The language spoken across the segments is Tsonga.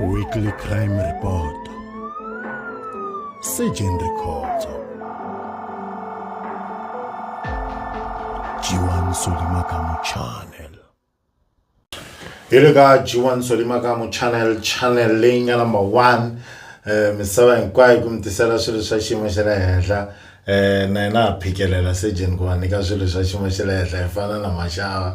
Weekly Crime Report Surgeon Records Jiwan Solimakamu Channel hi le ka g1 solimakamu channel channel leyi nga number one um misava hinkwayo ku mi tisela swilo swa xiyimo xa le henhla Eh, na yena a phikelela sejeni ku va nyika swilo swa xiyimo xa le henhla hi fana na maxava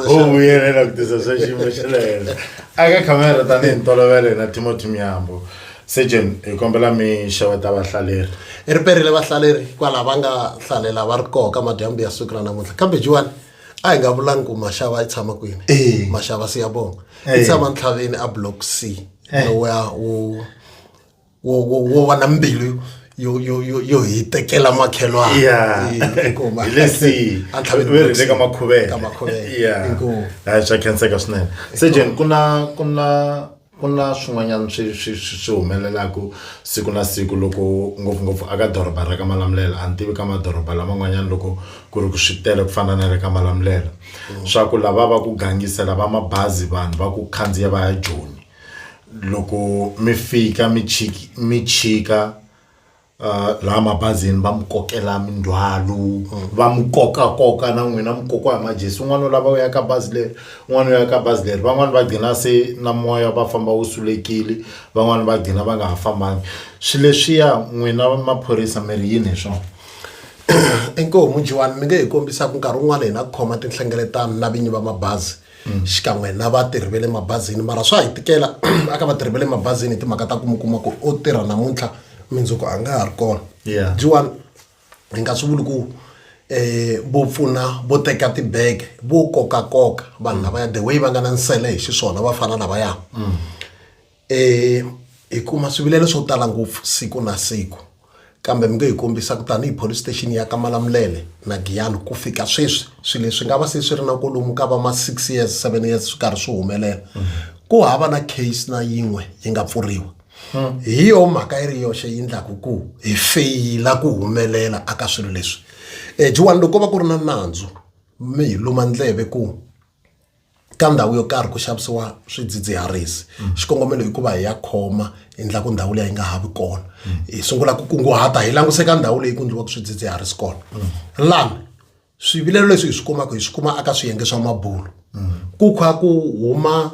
u vuyelela ku tisa swa xiyimo xa le henhla aka khamera tanihi ntolovelo hina timothy myambo sejeni hi kombela mi xeweta vahlaleri i ri perile vahlaleri kwalaho va nga hlalela va ri koho ka madyambu ya siku ra namuntlha kambe jiwani a hi nga vulangi ku maxava yi tshama kwini Eh. maxava siyabonga Eh. i tshama ntlhaveni a block c Eh. lowa wu wo wo wo va na mbilu yo yo yo yo hi tekela makhelwana Yeah. Eh, inkomu. Hi le si- A tlhaveni ve ri le ka makhuvela. ka makhuvela Yeah. inkomu hayi swa khenseka swinene se jen ku na ku na ku na swin'wanyana swi swi swi swi humelelaka siku na siku loko ngopfungopfu aka doroba ra ka malamulelo a ni tivi ka madoroba laman'wanyana loko ku ri ku swi tele ku fana na le ka malamulelo swa ku lava va ku gangisela va mabazi vanhu va ku khandziya va ya joni loko mi fika mi mi chika uh, laha mabazini va mi kokela mindzhwalo va mi koka koka na n'wina mi kokiwa hi majesi un'wana u lava u ya ka bazi leri un'wana u ya ka bazi leri van'wani va gcina se na moya va famba wu sulekile van'wani va gcina va nga ha fambangi swi leswiya n'wina maphorisa mi ri yini hi swona inkomu jiwani mi nge hi kombisaka nkarhi wun'wana hina ku khoma tinhlengeletano na vinyi va mabazi mm. xikan'we na vatirhi va le mabazini mara swa hi tikela aka vatirhi va le mabazini hi timhaka ta ku mi kuma ku o tirha namuntlha mindzuku a nga ha ri kona jiwani hi nga swi vuli ku eh vo pfuna vo teka tibege vo kokakoka vanhu lavaya the way va nga na nsele hi xiswona va fana lavaya mm. E, hi kuma swivilelo swo tala ngopfu siku na siku kambe mi nge hi kombisa ku tanihi police station ya kamalamulele na giyani ku fika sweswi swilo leswi nga va se swi ri na kolomu ka va ma six years seven years swi karhi swi humelela ku hava na case na yin'we yi nga pfuriwa hi yo mhaka yi ri yoxe yi ndlaku ku hi feyila ku humelela aka swilo leswi um juwani loko va ku ri na nandzu mi hi luma ndleve ku ka ndhawu yo karhi ku xavisiwa swidzidziharisi mm. xikongomelo i ku va hi ya khoma hi endla ku ndhawu leyi yi nga ha vi kona mm. hi sungula ku kunguhata hi languse ka ndhawu leyi ku endliwaka swidzidziharisi kona mm. lani swivilelo leswi hi swi kumaka hi swi kuma aka swiyenge swa mabulo ku kha ku huma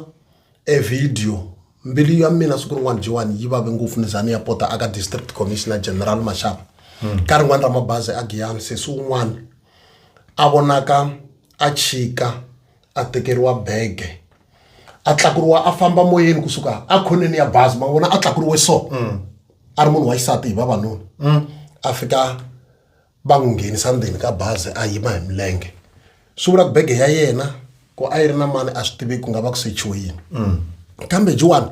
e video mbilu ya mina siku rin'wana jiwani yi vave ngopfu ni za ni ya pota aka district commissioner general mashava ka rin'wana ra mabazi a giyani sesi un'wana a vonaka a chika a tekeriwa bege a tlakuriwa a famba moyeni kusuka a khoneni ya bazi ma vona a tlakuriwe so mm. a ri munhu wa xisati hi vavanuna mm. a fika va n'wi nghenisa ndzeni ka bazi a yima hi milenge swi vula ku bege ya yena ku a yi ri na mani a swi tivi ku nga va ku sechiwe yini mm. kambe jiwani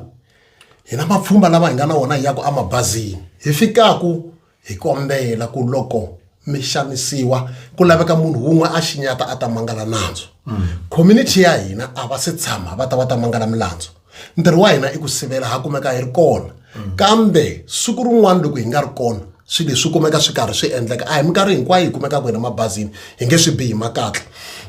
hina mapfhumba lama hi nga na wona hi yaku emabazini hi fikaku hi kombela ku loko mi xanisiwa ku laveka munhu wun'we a xinyata a ta mangala nandzu mm. community ya hina a va se tshama va ta va ta mangala milandzu ntirho wa hina i ku sivela ha kumeka hi ri kona mm. kambe siku rin'wana loko hi nga ri kona swilo leswi kumeka swi karhi swi endleka a hi minkarhi hinkwayo hi kumekaka hina mabazini hi nge swi bihi makatla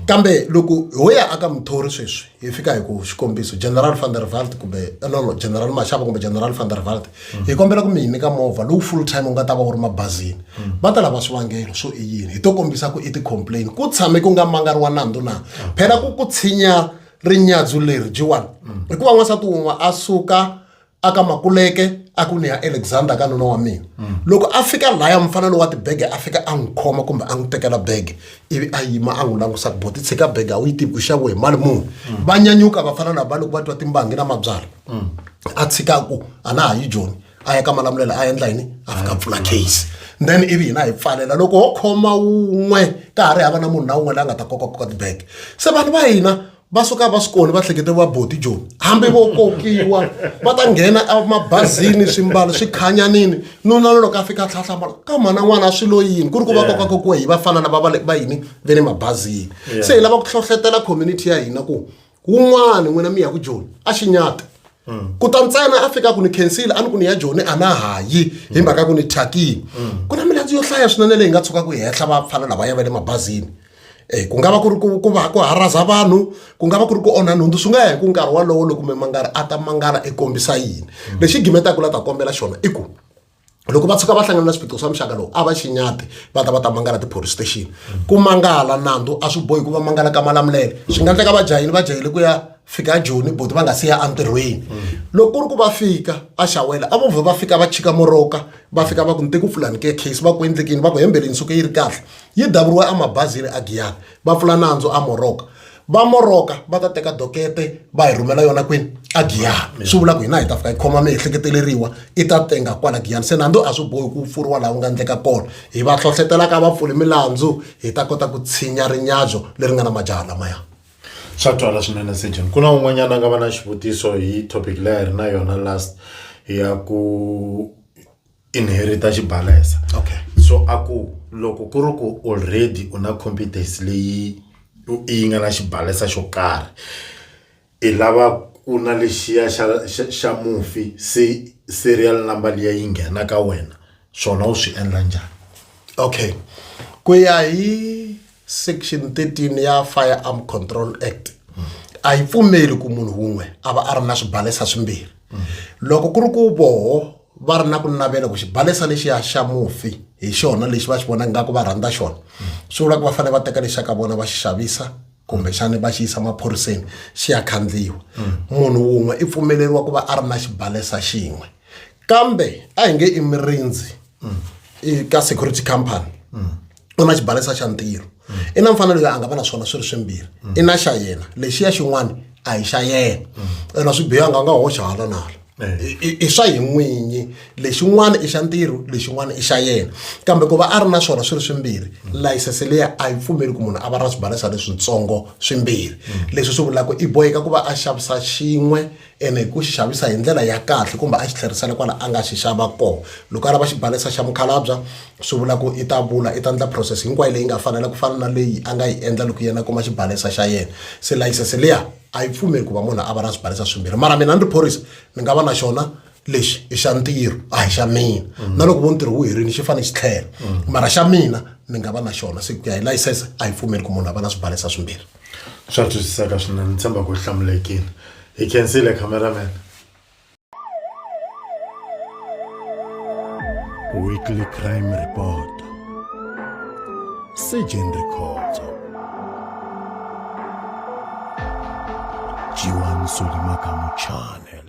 kambe loko ho ya aka muthori sweswi hi fika hi ku xikombiso general van der valt kumbe eh, no no general maxava kumbe general van der valt mm. hi kombela ku mi hi nyika movha lowu full time u nga ta va wu ri mabazini mm. va ta lava swivangelo swo i yini hi to kombisa ku i ti-complain ku tshame ku nga mangariwa nandzu na mm. phela ku ku tshinya rinyadzu leri jiwani hikuva n'wansati wun'we a suka a ka makuleke a ku ni ya alexander ka nuna wa mina mm. loko a fika laya mufana lowa tibege a fika a n'wi khoma kumbe a n'wi tekela bege ivi a yima a n'wi langusa ku bo ti tshika bege a wu yi tivi u xaviwe hi mali muni mm. va nyanyuka va fana na va loko va twa timbangi na mabyala mm. a tshika ku a na ha yi joni a ya ka malamulela a endla yini a fika pfula case then ivi hina hi pfalela loko ho khoma wun'we ka ha ri hava na munhu na wun'we la nga ta kokakoka tibege se vanhu va hina va suka va swi koni va hlekete va boti joni hambi vo kokiwa va ta nghena emabazini swimbalo swi khanyanini nuna loloko a fika tlhatlhamala ka mhana n'wana a swi lo yini ku ri ku va koka kokiwa hi vafana lava va va yini ve le mabazini se hi lava ku hlohletela community ya hina ku wun'wani n'wina mi ya ku joni a xinyata ku ta ntsena a fika ku ni khensile a ni ku ni ya joni a na ha yi hi mhaka ku ni thyakile ku na milandzu yo hlaya swinene leyi nga tshuka ku yi henhla vapfana lava ya va le mabazini um ku nga va ku ri ku ku va ku haraza vanhu ku nga va ku ri ku onha nhundzu swi nga ya hi ku nkarhi wolowo loko mimangari a ta mangala i kombisa yini lexi gimetaka la ta kombela xona i ku loko va tshuka va hlangana na swiphiqo swa muxaka lowu a va xinyati va ta va ta mangala ti-police station ku mangala nandzu a swi bohi ku va mangala ka malamulele swi nga endleka va jahile va jahile ku ya fika a joni boti va nga si ya entirhweni loko ku ri ku va fika a xawela a vo vhe va fika va chika moroka va fika va ku ni te ku pfulani ke case va ku endlekini va ku hembeleni suke yi ri kahle yi davuriwe emabazini a giyani va pfula nandzu a moroka va moroka va ta teka dokete va hi rhumela yona kwini a giyani swi vula ku hina hi ta fika hi khoma miehleketeleriwa i ta tenga kwala giyani se nandzu a swi bohi ku pfuriwa laha wu nga endleka kona hi va hlohletelaka va pfuli milandzu hi ta kota ku tshinya rinyabyo leri nga na majaha lamaya swa twala swinene sejen ku na un'wanyana a nga va na xivutiso hi topic leyi a hi ri na yona last ya ku inherita xibalesa okay so a ku loko ku ri ku already u na competence leyi yi nga na xibalesa xo karhi i lava ku na lexiya xa xa xa mufi se serial number liya yi nghena ka wena swona u swi endla njhani okay ku ya hi section 13 ya firearm control act a yi pfumeli ku munhu wun'we a va a ri na swibalesa swimbirhi loko ku ri ku voho va ri na ku navela ku xibalesa lexiya xa mufi hi xona lexi va xi vonaka nga ku va rhandza xona swi vula ku va fanele va teka lexa ka vona va xi xavisa kumbexani va xi yisa maphoriseni xi ya khandziyiwa munhu wun'we i pfumeleriwa ku va a ri na xibalesa xin'we kambe a hi nge i mirindzi i ka security company u na xibalesa xa ntirho i na mfanelo ya a nga va na swona swi ri swimbirhi i na xa yena lexiya xin'wana a hi xa yena ena swi bihanga a nga hoxa hala na hala I- i i swa hi n'winyi lexin'wana i xa ntirho lexin'wana i xa yena kambe ku va a ri na swona swi ri swimbirhi layisense leyi a yi pfumeli ku munhu a va na swibalesa leswitsongo swimbirhi leswi swi vulaka i boheka ku va a xavisa xin'we ene hi ku xi xavisa hi ndlela ya kahle kumbe a xi tlherisela kwala a nga xi xava kona loko a lava xibalesa xa mukhalabya swi vula ku i ta vula i ta endla process hinkwayo leyi nga fanela ku fana na leyi a nga yi endla loko yena kuma xibalesa xa yena se layisense liya a yi pfumeli ku va munhu a va na swibalesa swimbirhi mara mina ni ri phorisa ni nga va na xona lexi i xa ntirho a hi xa mina mm. na loko vo ntirho wu herile xi fanele xi tlhela mm. mara xa mina ni nga va na xona se ku ya hi layisense a yi pfumeli ku munhu a va na swibalesa swimbirhi swa twisiseka swinene ni tshemba ku hlamulekile hi khensile cameraman weekly crime report sejen rikhotso jiwan solimakamu channel